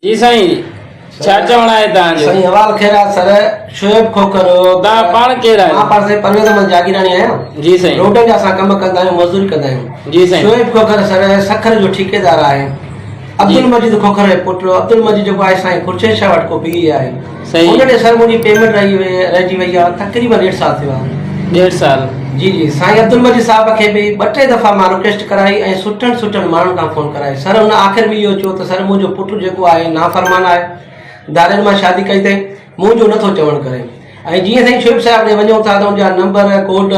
جي سائين ڇا چوڻ آهي تان جو سائين حوال خير آ سر شعيب کوکر تا پاڻ ڪير آهي مان پاڻ سائين پرويز احمد جاگيراڻي آهيان جي سائين روڊن جا اسان ڪم ڪندا آهيون مزدوري ڪندا آهيون جي سائين شعيب کوکر سر سکر جو ٺيڪيدار آهي عبدالمجيد کوکر جو پٽ عبدالمجيد جيڪو آهي سائين خورشيد شاهه وٽ ڪو پيء آهي سائين ان ڏي سر منهنجي پيمنٽ رهي وئي رهجي وئي آ تقريبن ڏيڍ سال ٿيو آهي. ڏيڍ سال جي جي سائين عبدالمجيد صاحب کي به ٻه ٽي دفعا مان رڪويسٽ ڪرائي ۽ سٺن سٺن ماڻهن کان فون ڪرائي سر هن آخر ۾ اهو چيو ته سر منهنجو پٽ جيڪو آهي نافرمان آهي ڌارين مان شادي ڪئي اٿئي منهنجو نٿو چوڻ ڪري ۽ جيئن سائين شعيب صاحب ڏي وڃون ٿا ته ان جا نمبر ڪوڊ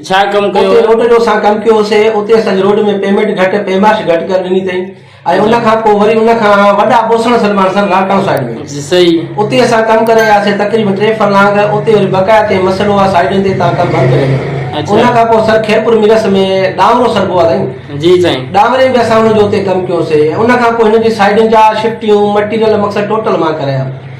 ڇا ڪم ڪيو اتي روڊ جو اسان ڪم ڪيو سي اتي اسان جي روڊ ۾ پيمينٽ گهٽ پيماش گهٽ ڪري ڏني تئين ۽ ان کان پوء وري ان کان وڏا بوسڻ سلمان سر لاڙڪاڻو سائيڊ ۾ جي سهي اتي اسان ڪم ڪري آياسي تقريبن ٽي فرلانگ اتي وري بقايا تي مسئلو آ سائيڊن تي تان ڪم بند ڪري اڇا ان کان پوء سر خيرپور ميرس ۾ ڏانورو سر بو آ سائين جي سائين ڏانوري به اسان ان جو اتي ڪم ڪيو سي ان کان پوء هن جي سائيڊن جا شفٽيون مٽيريل مقصد ٽوٽل مان ڪرايا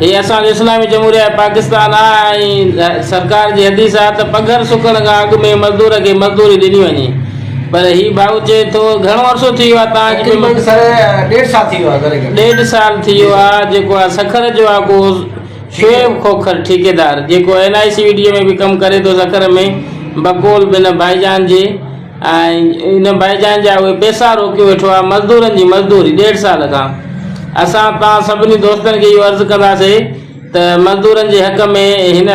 هي اسان جو اسلامي جمهوريه پاڪستان آ ۽ سرڪار جي حديث آ ته پگهر سڪڻ کان اڳ ۾ مزدور کي مزدوري ڏني وڃي پر هي ڀائو چئي ٿو گهڻو عرصو ٿي ويو آ تان اڄ تقريبن به سر ڏيڍ سال ٿي ويو آ ذري گهٽ ڏيڍ سال ٿي جي ويو سر آ جيڪو آ سکر جو آ ڪو ٺيڪيدار شعيب کوکر ٺيڪيدار جيڪو N I C V D اي ۾ به ڪم ڪري ٿو سکر ۾ بقول بنهه ڀائيجان جي ان ڀائي جان جا اهي پيسا روڪي ويٺو آهي مزدورن جي مزدوري ڏيڍ سال کان اسان توهان سڀني دوستن کي اهو عرض ڪنداسي ته مزدورن جي حق ۾ هن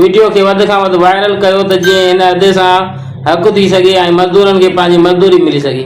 وڊيو کي وڌ کان وڌ وائرل ڪيو ته جيئن هن ادي سان حق ٿي سگهي ۽ مزدورن کي پنهنجي مزدوري ملي سگهي.